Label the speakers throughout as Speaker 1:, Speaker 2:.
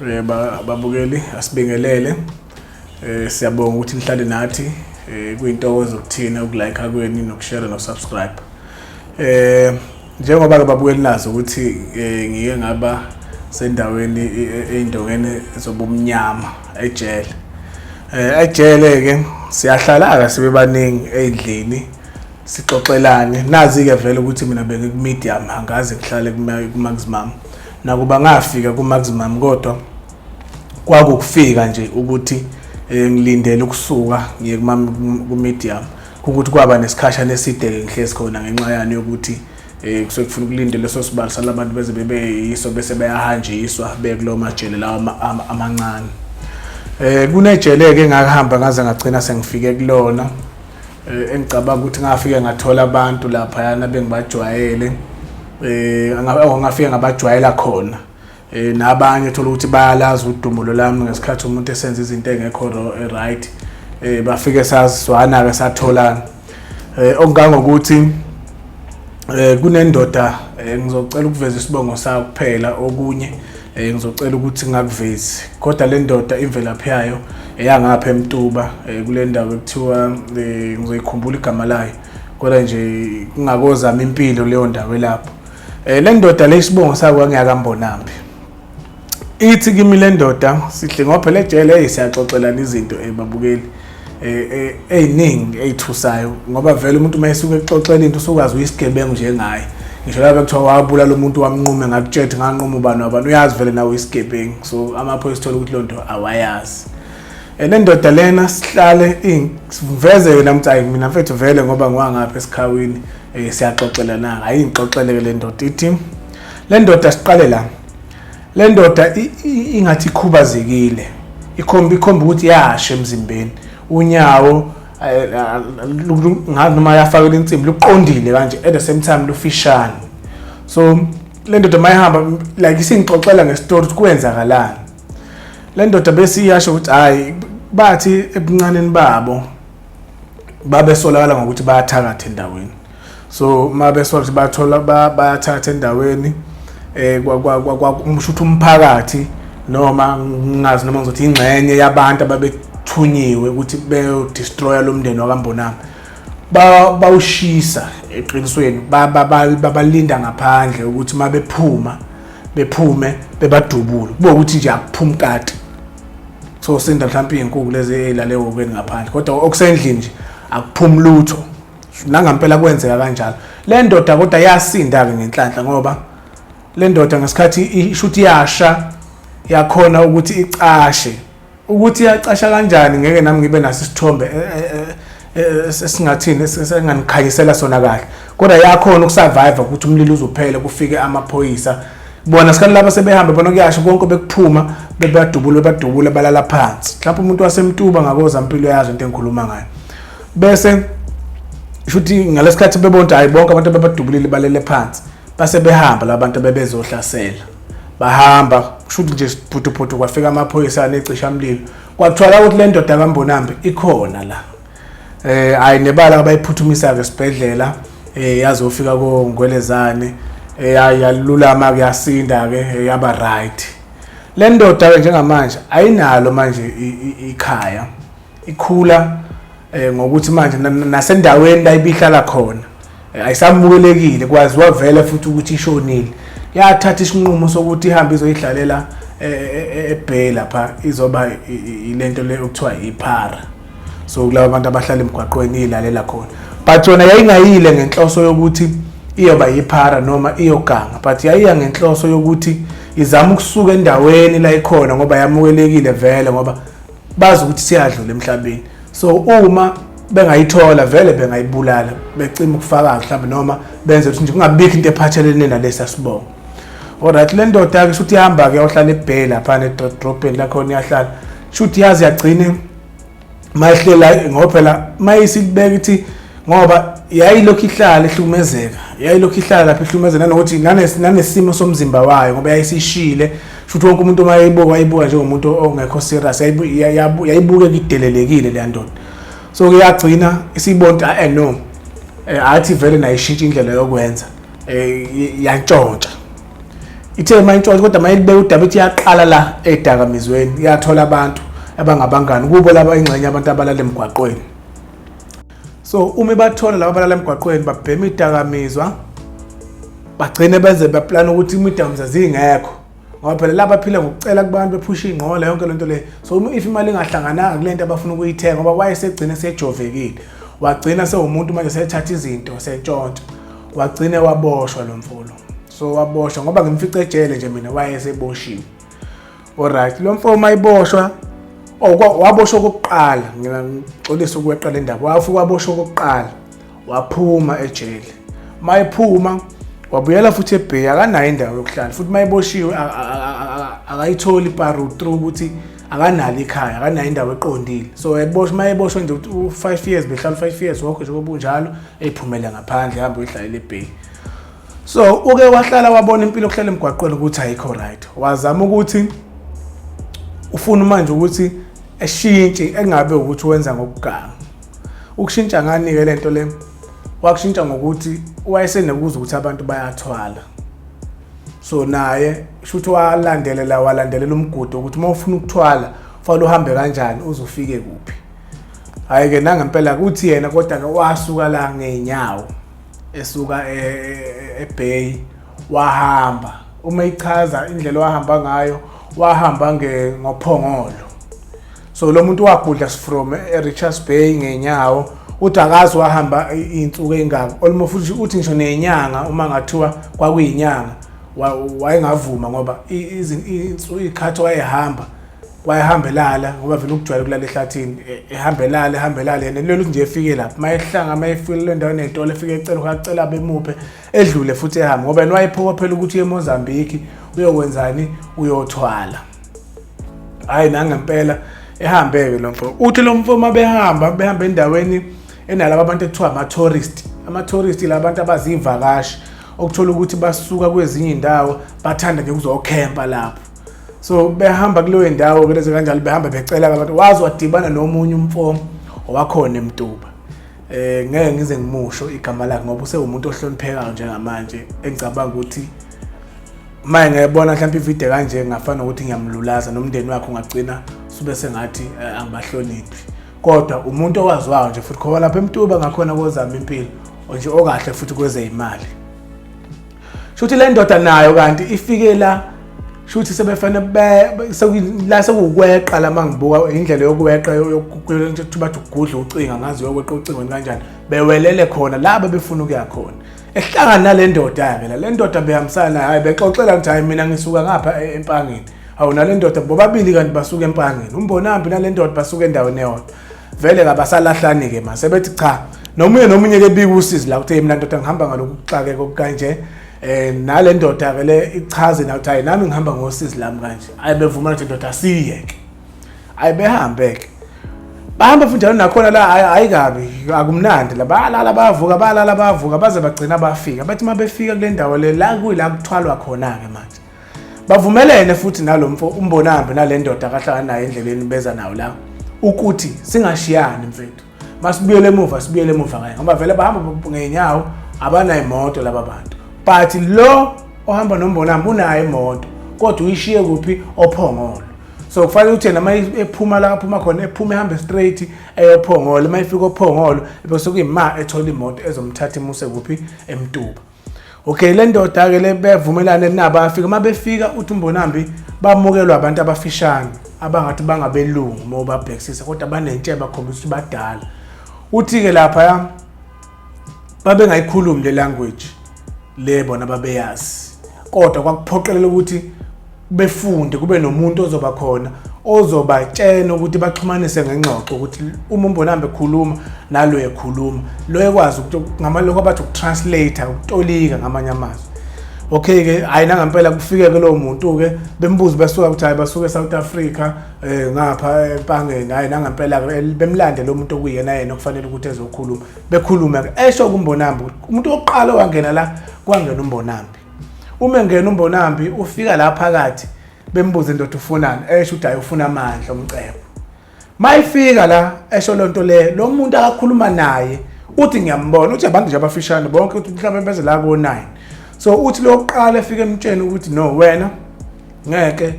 Speaker 1: Eh, babukeli asibingelele eh, siyabonga ukuthi nihlale nathi eh, kuyintokozo kuthina ukulike kweni nokushare nosubscribe eh njengoba ke babukeli nazo ukuthi eh, ngike ngaba sendaweni eindongeni zobumnyama ejele eh ejele ke siyahlala ka sibe baningi eindlini sixoxelane nazi-ke vele ukuthi mina bengikumedium angaze ngihlale kumaximum nakuba ngafika kumaximum kodwa kwakukufika nje ukuthi eh, ngilindele ukusuka ngiye kumedium ukuthi kwaba nesikhashana eside-ke ngihlezi khona ngenxa yani yokuthi um kusuke kufuna ukulinde leso sibalo salabantu beze bebeyiso bese beyahanjiswa bekulowo majele lawo amancane um kunejele-ke engahamba ngaze ngagcina sengifike kulona Eh, engicabanga ukuthi ngafike ngathola abantu laphayana bengibajwayele eh ngafike ngabajwayela khona eh nabanye thola ukuthi bayalazi udumulo lami ngesikhathi umuntu esenza izinto engekho eh, right eh bafike sazwana ke satholana eh okungangokuthi eh kunendoda eh, ngizocela ukuveza isibongo sayo kuphela okunye Eh ngizocela ukuthi ngakuvezi kodwa le ndoda imvelaphi yayo eyangapha emtuba eh, kule ndawo ekuthiwa eh, ngizoyikhumbula igama layo kodwa nje kungakozama impilo leyo ndawo elapho eh le ndoda le isibongo sakwa ngiyakambonambi ithi kimi le ndoda sihle ngoba phela ejele hey siyaxoxelana izinto ebabukeli eh, eh, eyiningi eyithusayo ngoba vele umuntu uma esuke exoxela into usukwazi uyisigebengu njengaye ngisho laba kuthiwa wabula lo muntu wamnqume ngakutshethe nganquma ubani wabani uyazi vele nawe uyisigebengu so amaphoyisa uthola ukuthi loo nto awayazi and endoda lena sihlale siveze yona mthi ayi mina mfethu vele ngoba ngiwangapha esikhawini um siyaxoxelana hayi ngixoxeleke le ndoda ithi le ndoda siqale la Le ndoda ingathi ikhubazekile ikhomba ikhomba ukuthi yashe emzimbeni unyawo eh, eh, noma yafakela insimbi luqondile kanje at the same time lufishane so le ndoda uma ihamba like isingixoxela ngestori ukuthi kwenzakalani le ndoda bese iyasho ukuthi hhayi bathi ebuncaneni babo babesolakala ngokuthi bayathakatha endaweni so uma besola ukuthi bathola bayathatha endaweni eh kwakusho ukuthi umphakathi noma ngingazi noma ngizothi ingxenye yabantu ababethunyiwe ukuthi beyodestroya lo mndeni wakambonami bawushisa eqinisweni babalinda ngaphandle ukuthi uma bephuma bephume bebadubule kube ukuthi nje akuphumi kati so sinda mhlawumpe iy'nkuku lezi ey'lale wokweni ngaphandle kodwa okusendlini nje akuphumi lutho nangampela kwenzeka kanjalo le ndoda kodwa yasinda-ke ngenhlanhla ngoba le ndoda ngesikhathi ishuthi yasha yakhona ukuthi icashe ukuthi yacasha kanjani ngeke nami ngibe naso isithombe eh, eh, eh, esingathini esinganikhanyisela sona kahle kodwa yakhona ukusurvive ukuthi umlilo uzophele kufike amaphoyisa bona sikhathi laba sebehamba bona kuyasho konke bekuphuma bebadubule bebadubule balala phansi mhlawumbe umuntu wasemtuba ngakoza mpilo yazo into engikhuluma ngayo bese shuthi ngalesikhathi bebona ukuthi hayi bonke abantu ababadubulile balele phansi base behamba labantu bebezohlasela bahamba kushuthi nje siphuthuphuthu kwafika amaphoyisa anecisha mlilo kwakuthola ukuthi le ndoda kambonambi ikhona la eh ayi nebala abayiphuthumisa ke sibhedlela eh yazofika ko ngwelezane eh yalulama kuyasinda ke eh, yaba right le ndoda ke njengamanje ayinalo manje ikhaya ikhula eh, ngokuthi manje nasendaweni la ibihlala khona eh, ayisamukelekile kwaziwa vele futhi ukuthi ishonile yathatha isinqumo sokuthi ihambe izoyidlalela eh, ebhey lapha izoba ilento le okuthiwa iphara so kulabo bantu abahlala emgwaqweni iyilalela khona but yona yayingayile ngenhloso yokuthi iyoba yiphara noma iyoganga but yayiya ngenhloso yokuthi izama ukusuka endaweni la ikhona ngoba yamukelekile vele ngoba bazi ukuthi siyadlula emhlabeni so uma bengayithola vele bengayibulala becima ukufakaza mhlawumbe noma benze ukuthi nje kungabikho into ephathelene nalesi asibongo olright le ndoda-ke shuthi ihamba-ke yohlala ebheli laphana edrobheni lakhona iyahlala shuthi yazi yagcine mayihlela ngoba phela mayisilibeka ithi ngoba yayilokhu ihlala ihlukumezeka yayilokhu ihlala lapha ihlukumezeka nanokuthi nanesimo somzimba wayo ngoba yayisishile Futhi wonke umuntu uma yayibuka wayibuka njengomuntu ongekho serious yayibuke idelelekile le ndoda. So kuyagcina isibonta ah, eh no. Eh, athi vele nayishintsha indlela yokwenza. Eh yantshontsha. Ithe mayintshontsha kodwa mayilibeka udaba ithi yaqala la edakamizweni yathola abantu abangabangani kubo laba ingxenye abantu abalala emgwaqweni. so uma ibathola laba balala emgwaqweni babhema idakamizwa bagcine benze beplana ukuthi imidakamizwa zingekho ngoba phela laba phila ngokucela kubantu bephusha ingqola yonke lento le so uma if imali ingahlangananga kulento abafuna ukuyithenga ngoba wayesegcine sejovekile wagcina sewumuntu manje sethatha izinto sentshontsha wagcine waboshwa lo mfolo so waboshwa ngoba ngimfice ejele nje mina wayeseboshiwe Alright, lo mfo uma iboshwa waboshwa okokuqala ngixolisa ukweqa le ndaba wafika waboshwa okokuqala waphuma ejele uma ephuma wabuyela futhi ebheya akanayo indawo yokuhlala futhi uma eboshiwe akayitholi iparu through ukuthi akanalo ikhaya akanayo indawo eqondile so eboshwa uma eboshwa nje ukuthi u-five years behlala u-five years wokho nje kobunjalo eyiphumele ngaphandle hambe uyihlalela ebheyi so uke wahlala wabona impilo yokuhlala emgwaqweni ukuthi ayikho right wazama ukuthi ufuna manje ukuthi eshintshe engabe ukuthi wenza ngokuganga ukushintsha nganike lento le wakushintsha ngokuthi wayesenekuza ukuthi abantu bayathwala so naye shuthi walandelela walandelela umgudu ukuthi uma ufuna ukuthwala fanele uhambe kanjani uzofike kuphi hhayi-ke nangempela kuthi yena kodwa-ke wasuka la ngey'nyawo esuka e, e, eBay wahamba uma ichaza indlela wahamba ngayo wahamba ngophongolo so lo muntu wagudla from eRichards Bay ngenyawo uthi akazi wahamba iy'nsuku ey'ngako olmo futhi uthi ngisho nenyanga uma ngathiwa kwakuyinyanga wayengavuma ngoba iy'khathi wayehamba wayehamba elala ngoba vele ukujwayela ukulala ehlathini e- ehamba elala ehamba elala yena lelo nje efike lapho uma ehlanga uma efike le ndawo enetolo efike ecela ukacela bemuphe edlule futhi ehambe ngoba yena wayephupha phela ukuthi uye emozambiki uyokwenzani uyothwala hhayi nangempela ehambe-ke lo mfo uthi lo mfo uma behamba behamba endaweni enalaba abantu ekuthiwa ama-tourist ama-tourist la bantu abaziyivakashi okuthola ukuthi basuka kwezinye iy'ndawo bathanda nje ukuzokhempa lapho so behamba kuleyo ndawo kulezi kanjalo behamba becela abantu wazi wadibana nomunye umfo owakhona emtuba eh ngeke ngize ngimusho igama lakhe ngoba usewumuntu ohloniphekayo njengamanje engicabanga ukuthi maye ngiyabona mhlawumbe ivideo kanje ngafana ukuthi ngiyamlulaza nomndeni wakhe ungagcina sube sengathi eh, angibahloniphi kodwa umuntu owaziwayo nje futhi khona lapha emtuba ngakhona kozama impilo nje okahle futhi kwezeyimali shuthi le ndoda nayo kanti ifike la shuthi sebefane la sekuwukweqa la mangibuka indlela yokweqa yokuthi bathi ugudla ucinga ngazi yokweqa ucingweni kanjani bewelele khona la bebefuna ukuya khona ehlangana nale ndoda-ke la le ndoda behambisana nayo hayi bexoxela ukuthi hhayi mina ngisuka ngapha e-, empangeni hawu nale ndoda bobabili kanti basuke empangeni umbonambi nale ndoda basuke endaweni eyodwa vele kabasalahlani ke manje sebethi cha nomunye nomunye ke bika usizi la kuthe mina ndoda ngihamba ngaloku kuxakeka okukanje eh nale ndoda ke le ichaze na ukuthi nami ngihamba ngosizi lami kanje ayi bevumana ukuthi ndoda siyeke ayi behambe ke bahamba futhi njalo nakhona la hayi kabi akumnandi la balala bavuka balala bavuka baze bagcina bafika bathi uma befika kule ndawo le la kuyila kuthwalwa khona ke manje bavumelene futhi nalomfo umbonambe nalendoda akahlala nayo endleleni beza nawo la ukuthi singashiyani mfethu masibuyele emuva sibuyele emuva kanye ngoba vele bahamba ngenyawo abanayo imoto laba bantu but lo ohamba nombonambe unayo imoto kodwa uyishiye kuphi ophongolo so kufanele ukuthi yena ephuma la aphuma khona ephuma ehambe straight eyophongolo uma efika ophongolo bese kuyima ethola imoto ezomthatha imuse kuphi emtuba okay le ndoda ke le bevumelane nabo afika uma befika uthi umbonambi bamukelwa abantu abafishane abangathi bangabelungu uma ubabhekisisa kodwa banentshebe bakhombisa ukuthi badala uthi-ke laphaya babengayikhulumi le language le bona babeyazi kodwa kwakuphoqelela ukuthi befunde kube nomuntu ozoba khona ozobatshena ukuthi baxhumanise ngengxoxo ukuthi uma umbonambe ekhuluma nalo ekhuluma lo ekwazi ukuthi ngamaloko abathi ukutranslate ukutolika ngamanye amazwi okay ke hayi nangempela kufike ke lowo muntu ke bembuza basuka ukuthi hayi basuke eSouth Africa eh ngapha empangeni hayi nangempela ke bemlande lo muntu okuyena yena okufanele ukuthi ezokhuluma bekhuluma ke esho kumbonambi umuntu oqala wangena la kwangena umbonambi uma engena umbonambi ufika la phakathi bembuze ndoda ufunani esho ukuthi hayi ufuna amandla omcebo mayifika la esho lonto le lo muntu akakhuluma naye uthi ngiyambona uthi abantu nje abafishane bonke uthi mhlawumbe beze la ko 9 so uthi lokuqala efike emtsheni ukuthi no wena ngeke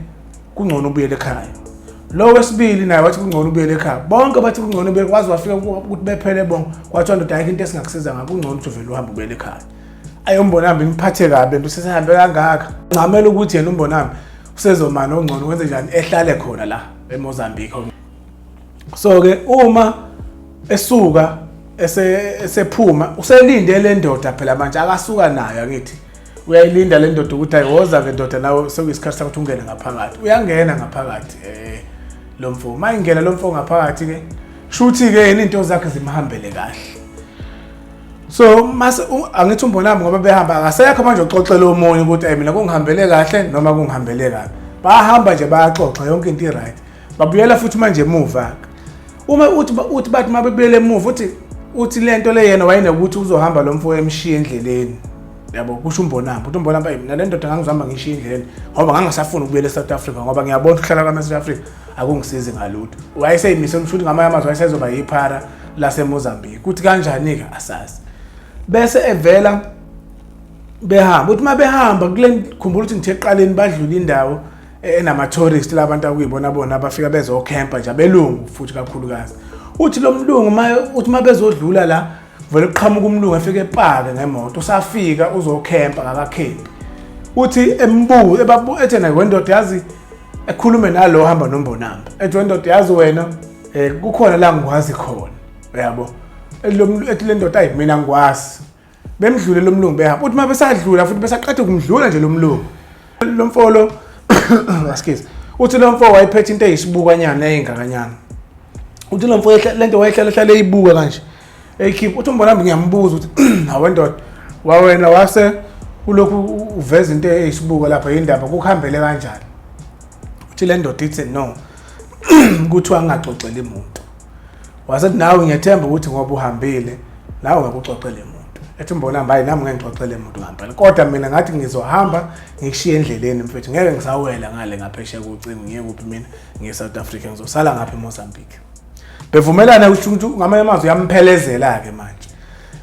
Speaker 1: kungcono ubuyele ekhaya lo wesibili naye wathi kungcono ubuyele ekhaya bonke bathi kungcono ubuyele kwazi wafika ukuthi bephele bonke kwathiwa ndoda ayikho into esingakusiza ngakho kungcono ukuthi uvele uhambe ubuyele ekhaya ayombonami ngiphathe kabi nto usesehambe kangaka ncamela ukuthi yena umbonami usezomana ongcono wenze njani ehlale khona la emozambique so ke uma esuka esephuma uselinde le ndoda phela manje akasuka nayo angithi uyayilinda le ndoda ukuthi ayiwoza ke ndoda nawe sekuyisikhathi sakuthi ungene ngaphakathi uyangena ngaphakathi um lo mfo uma ingena lo mfo ngaphakathi ke shuthi-ke yena iy'nto zakhe zimhambele kahle so mase angithi umbonami ngoba behamba akasekho manje uxoxela omunye ukuthi ayi mina kungihambele kahle noma kungihambele kabi bahamba nje bayaxoxa yonke into i-right babuyela futhi manje emuva uma uthi uthi bathi uma bebuyele emuva uthi uthi le nto le yena wayenokuthi uzohamba lo mfo emshiya endleleni yabo kusho umbonamba ukuthi umbonamba yimi nale ndoda ngangizihamba ngishiya indleleni ngoba ngangisafuni ukubuyela e-south africa ngoba ngiyabona ukuhlala kwami e-south africa akungisizi ngalutho wayeseyimise umshuthi ngamanye amazwi wayesezoba yiphara lasemozambique kuthi kanjani-ke asazi bese evela behamba uthi uma behamba kule khumbula ukuthi ngithe eqaleni badlula indawo e-, enama-tourist labantu akuyibona bona abafika bezokhempa nje abelungu futhi kakhulukazi uthi lo mlungu uthi uma bezodlula la vele kuqhamuka umlungu efike epake ngemoto usafika uzokhempa ngakakhempi uthi embuze ebabuethe naye wendoda yazi ekhulume nalo hamba nombonamba ethi wendoda yazi wena eh kukhona la ngikwazi khona uyabo elomlu ethi le ndoda ayimina ngikwazi bemdlule lomlungu behamba uthi uma besadlula futhi besaqathe kumdlula nje lomlungu lo mfolo excuse uthi lo mfo wayephethe into eyisibukwanyana eyingakanyana uthi lo mfo lento wayehlala hlala eyibuka kanje eyikhipha uthi umbona mbi ngiyambuza ukuthi hawe ndoda wawena wase ulokhu uveza into eyisibuka lapha yindaba kukuhambele kanjani uthi le ndoda ithi no kuthiwa angaxoxeli muntu wasethi nawe ngiyathemba ukuthi ngoba uhambile nawe ngakuxoxele muntu ethi mbona hambayi nami ngeke ngixoxele muntu ngempela kodwa mina ngathi ngizohamba ngikushiye endleleni mfethu ngeke ngisawela ngale ngaphesheya kocingo ngiye kuphi mina ngiye South Africa ngizosala ngapha eMozambique bevumelana ukuthi ngamanye amazwi yamphelezela-ke manje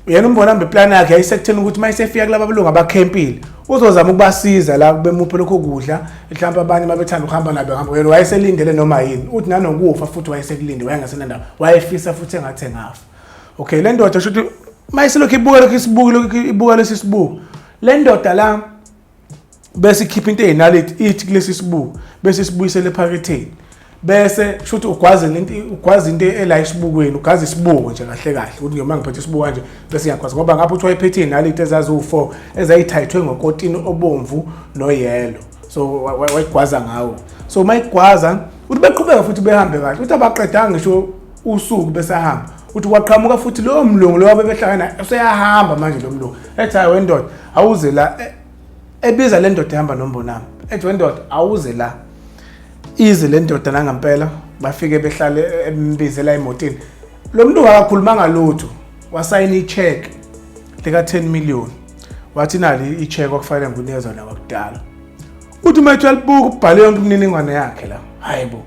Speaker 1: yena umbona mbe plan yakhe yayisekutheni ukuthi uma isefika kulaba belungu abakhempile uzozama ukubasiza la bemuphe lokho kudla mhlawumbe abanye babethanda ukuhamba nabo hamba yena wayeselindele noma yini uthi nanokufa futhi wayesekulinde wayengasenandaba wayefisa futhi engathi engafa okay le ndoda sho ukuthi uma iselokhu ibuka lokhu isibuki lokhu ibuka lesi sibuko le ndoda la bese ikhipha into eyinaleti ithi kulesi sibuko bese sibuyisele ephaketheni bese kusho ukuthi ugwaze lento ugwaze into ela isibukweni ugwaze isibuko nje kahle kahle ukuthi noma ngiphethe isibuko kanje bese ngiyagwaza ngoba ngapha uthi wayephethe inaliti ezaziwu-4 ezayithayithwe ngokotini obomvu noyelo so wayigwaza ngawo so uma igwaza uthi beqhubeka futhi behambe kahle uthi abaqedanga ngisho usuku besahamba uthi kwaqhamuka futhi lowo mlungu lowo bebehlangana useyahamba manje lo mlungu ethi hayi wendoda awuze la e, ebiza le ndoda ehamba nombonami ethi wendoda awuze la ize le ndoda nangampela bafike behlale e, embizela emotini lo mntu akakhulumanga lutho wasayina icheck lika-10 million wathi nali icheck okufanele ngunezwa nakakudala uthi uma ethi uyalibuka ubhale yonke imininingwane yakhe la hayi bo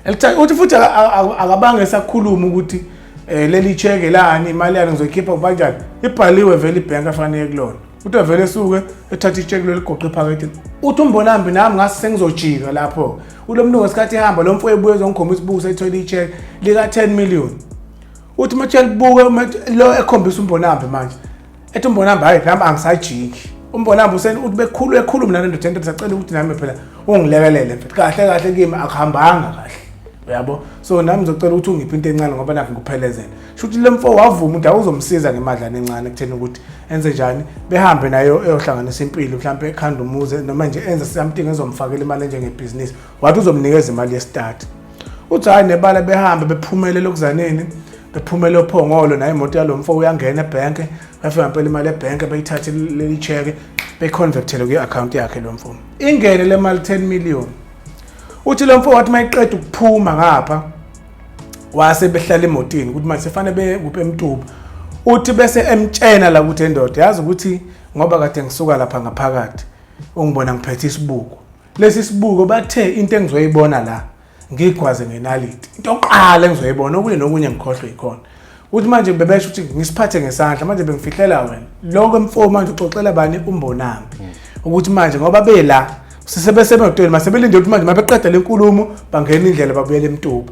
Speaker 1: Elithatha uthi futhi aka- aka- aka- akabange esakhuluma ukuthi eh, leli cheke lani imali yalo ngizoyikhipha kubanjani ibhaliwe vele ibhenki afanele kulona uthi vele esuke ethatha icheke lelo ligoqe ephaketheni uthi umbonambi nami ngase sengizojika lapho ulo mlungu ngesikhathi ehamba lo mfo ebuye ezongikhombisa ubuku seyithole icheke lika-10 million uthi uma libuke uma lo ekhombisa umbonambi manje ethi umbonamba hayi nami angisajiki umbonamba useni uthi bekhulu ekhulu mina nendoda ento sacela ukuthi nami phela ungilekelele mfethu kahle kahle kimi akuhambanga kahle uyabo so nami ngizocela ukuthi ungiphi into encane ngoba nakho ngikuphelezela shuthi le mfo wavuma ukuthi awuzomsiza ngemadlana encane kutheni ukuthi enze njani behambe nayo eyohlanganisa impilo mhlawumbe ekhanda umuze noma nje enze something ezomfakela imali enjengebhizinisi wathi uzomnikeza imali yesitati uthi hhayi nebala behambe bephumele lokuzaneni bephumele ophongolo naye imoto yalo mfo uyangena ebhenke bafika mpela imali ebhenke beyithathe leli cheke beyiconvectele kwi-akhawunti yakhe lo mfo ingene le mali 10 million uthi lo mfo wathi uma iqeda ukuphuma ngapha wase behlala emotini ukuthi manje sefanele bekuphi emtuba uthi bese emtshena la ukuthi endoda yazi ukuthi ngoba kade ngisuka lapha ngaphakathi ungibona ngiphethe isibuko lesi sibuko bathe into engizoyibona la ngigwaze ngenaliti into oqala engizoyibona okunye nokunye ngikhohlwe yikhona uthi manje bebesho ukuthi ngisiphathe ngesandla manje bengifihlela wena lokho mfo manje uxoxela bani umbonami hmm. ukuthi manje ngoba bela sisebesemotweni masebelinde ukuthi manje mabeqeda lenkulumo bangena indlela babuyele emtuba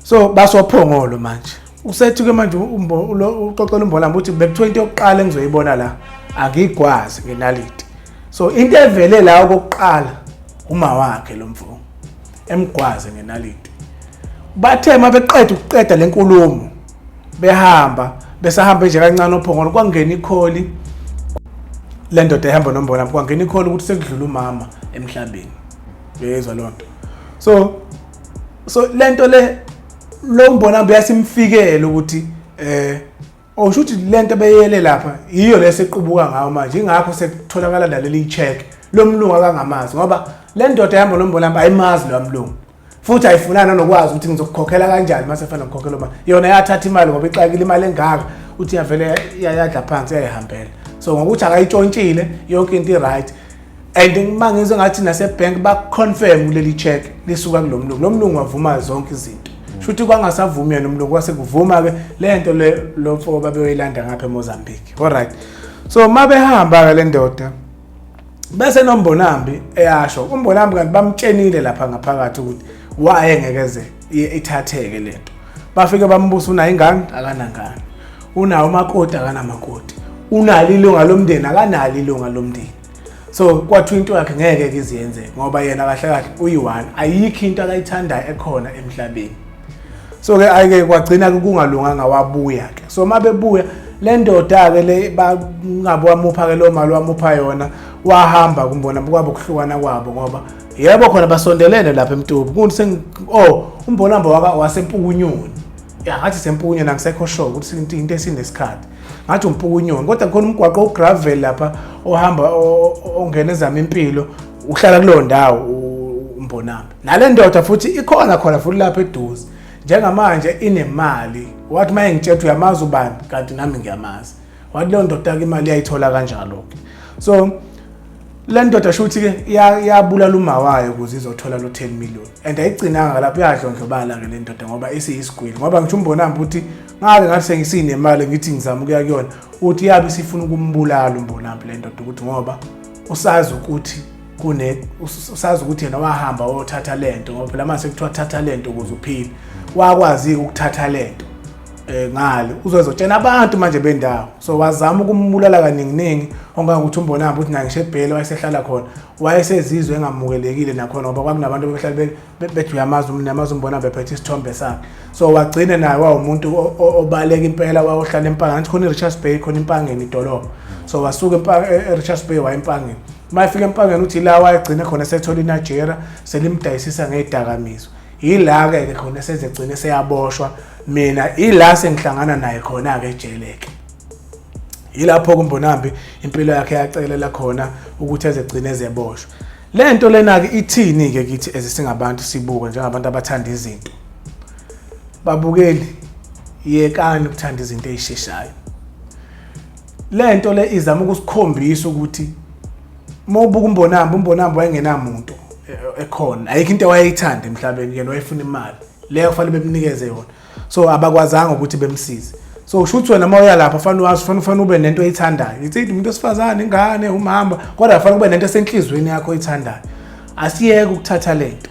Speaker 1: so basophongolo manje usethi ke manje uxoxela umbonami ukuthi bekuthiwa into yokuqala engizoyibona la angiyigwazi ngenaliti so into evele la okokuqala uma wakhe lo mfo emgwaze ngenaliti bathe uma beqeda ukuqeda le nkulumo behamba besahamba nje kancane ophongolo kwangena ikholi le ndoda ehamba nombona kwangena ikholi ukuthi sekudlula umama emhlabeni uyezwa loo nto so so le nto le lo mbonambo yasimfikele ukuthi eh Oh shuthi lento beyele lapha yiyo lesequbuka ngayo manje ingakho sekutholakala naleli check lomlungu akangamazi ngoba le ndoda yambo lombolamba ayimazi lo mlungu futhi ayifunana nokwazi ukuthi ngizokukhokhela kanjani uma sefana ngikhokhela uma yona yathatha imali ngoba ixakile imali engaka uthi yavele yayadla phansi yayihambela so ngokuthi akayitshontshile yonke into i-right and ngima ngizwe ngathi nasebank baconfirm kuleli check lisuka kulomlungu lomlungu wavuma zonke izinto mm. shuthi kwangasavumi yena umlungu kwase kuvuma ke lento le lomfo babeyilanda ngapha eMozambique all right so mabehamba ke le ndoda bese nombonambi eyasho umbonambi kanti bamtshenile lapha ngaphakathi ukuthi waye ngeke ze ithatheke lento bafike bambusa unayo ingane akanangane unawo umakoti akanamakoti unalo ilunga lomndeni akanalo ilunga lomndeni so kwathiwa into yakhe ngeke ke iziyenze ngoba yena kahle kahle uyi-one ayikho into akayithandayo ekhona emhlabeni so ke ayike kwagcina-ke kungalunganga wabuya-ke so uma bebuya le ndoda-ke le bangabe wamupha-ke loo mali wamupha yona wahamba kumbona kwabo kuhlukana kwabo ngoba yebo khona basondelene lapha emtubu kunti seng oh umbolamba waka wasempukunyoni ya ngathi sempukunyoni angisekho sure ukuthi into into esinesikhathi ngathi umpukunyoni kodwa khona umgwaqo ogravel lapha ohamba ongena ezama impilo uhlala kuleyo ndawo umbonamba nale ndoda futhi ikhona khona futhi lapha eduze njengamanje inemali wathi maye ngitshela uyamazi ubani kanti nami ngiyamazi wathi leyo ndoda ke imali yayithola kanjalo ke so le ndoda shuthi ke yabulala uma wayo ukuze izothola lo 10 million and ayigcinanga lapho yadlondlobala ke le ndoda ngoba isiyisigwili ngoba ngisho umbonambi ukuthi ngake ngathi sengisinemali ngithi ngizama ukuya kuyona uthi yabe sifuna ukumbulala umbonambi le ndoda ukuthi ngoba usazi ukuthi kune usazi ukuthi yena wahamba wothatha lento ngoba phela mase kuthiwa thatha lento ukuze uphile wakwazi ukuthatha lento eh ngale uzozotshena abantu manje bendawo so wazama ukumbulala kaninginingi ongangokuthi umbonaba ukuthi naye ngishebhele wayesehlala khona wayesezizwe engamukelekile nakhona ngoba kwakunabantu behlala bethi uyamazi umntu namazi umbonaba ephethe isithombe sakhe so wagcine naye wawumuntu obaleka impela wayohlala empangeni athi khona i-richards bay khona impangeni idolobha so wasuka e-richards e-, bay waya empangeni uma efika empangeni uthi la wayegcine khona sethola inajera selimdayisisa ngey'dakamizwa yilake ke khona sezegcine seyaboshwa mina ila sengihlangana naye khona ke jeleke yilapho kumbonambi impilo yakhe yacelela khona ukuthi ezegcine ezeboshwa le nto lena ke ithini ke kithi ezisingabantu sibuke njengabantu abathanda izinto babukeli yekani ukuthanda izinto ezisheshayo le nto le izama ukusikhombisa ukuthi uma ubuka umbonambi umbonambi wayengenamuntu e- ekhona ayikho into wayeyithanda emhlabeni yena wayefuna imali leyo kufanele bemnikeze yona so abakwazanga ukuthi bemsize so usho ukuthi wena uma uya lapha fanele wazi fanele fanele ube nento oyithandayo ithi umuntu osifazane ingane umhamba kodwa fanele ube nento esenhlizweni yakho oyithandayo asiyeke ukuthatha lento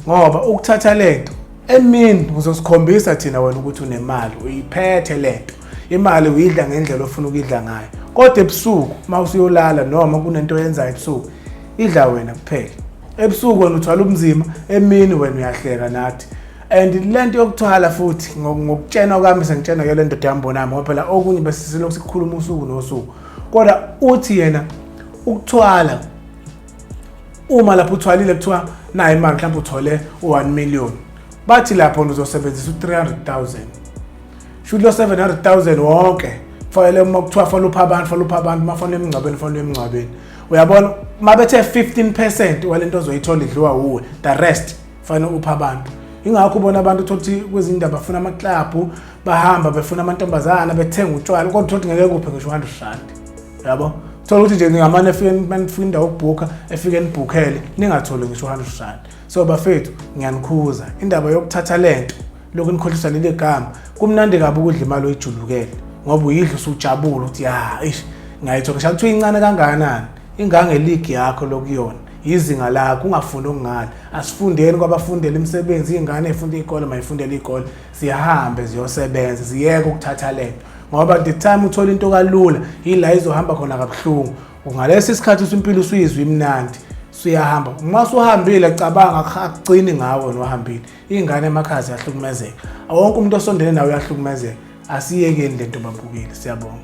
Speaker 1: ngoba ukuthatha lento emini uzosikhombisa thina wena ukuthi unemali uyiphethe lento imali uyidla ngendlela ofuna ukuyidla ngayo kodwa ebusuku uma usuyolala noma kunento oyenzayo ebusuku idla wena kuphela ebusuku wena uthwala ubunzima emini wena uyahleka nathi and lento yokuthwala futhi ngokutshena kwami sengitshena ke lento dambonami ngoba phela okunye besisilokhu sikhuluma usuku nosuku kodwa uthi yena ukuthwala uma lapho uthwalile kuthiwa nayo imali mhlawumbe uthole u-1 million bathi lapho uzosebenzisa u-300000 shuthi lo 700000 wonke fanele uma kuthiwa fanele upha abantu fanele upha abantu uma fanele emngcwabeni fanele emngcwabeni uyabona uma bethe 15 percent walento ozoyithola idliwa wuwe the rest fanele upha abantu ingakho ubona abantu thothi kwezinye indawo bafuna amaklabhu bahamba befuna amantombazana bethenga utshwala kodwa thothi ngeke kuphe ngisho 100 rand yabo thola ukuthi nje ngingamane efike manifika indawo ukubhukha efike nibhukhele ningatholi ngisho 100 rand so bafethu ngiyanikhuza indaba yokuthatha lento lokhu nikhohlisa leli gama kumnandi kabi ukudla imali oyijulukele ngoba uyidla usujabula ukuthi ya ish ngayithola ngisho kuthiwa incane kangakanani ingangeligi yakho lokuyona yizinga lakho ungafundi okungani asifundeni kwabafundela imisebenzi iy'ngane ey'funda iy'kole mayifundela iy'kole zihambe ziyosebenza ziyeke ukuthatha lento ngoba the time uthola into kalula yila izohamba khona kabuhlungu ngalesi isikhathi usimpilo usuyizwa imnandi suyahamba uma suhambile cabanga akucini ngawe nohambile Ingane emakhaya ziyahlukumezeka. Awonke umuntu osondele nawe uyahlukumezeka. Asiyekeni lento babukeli. Siyabonga.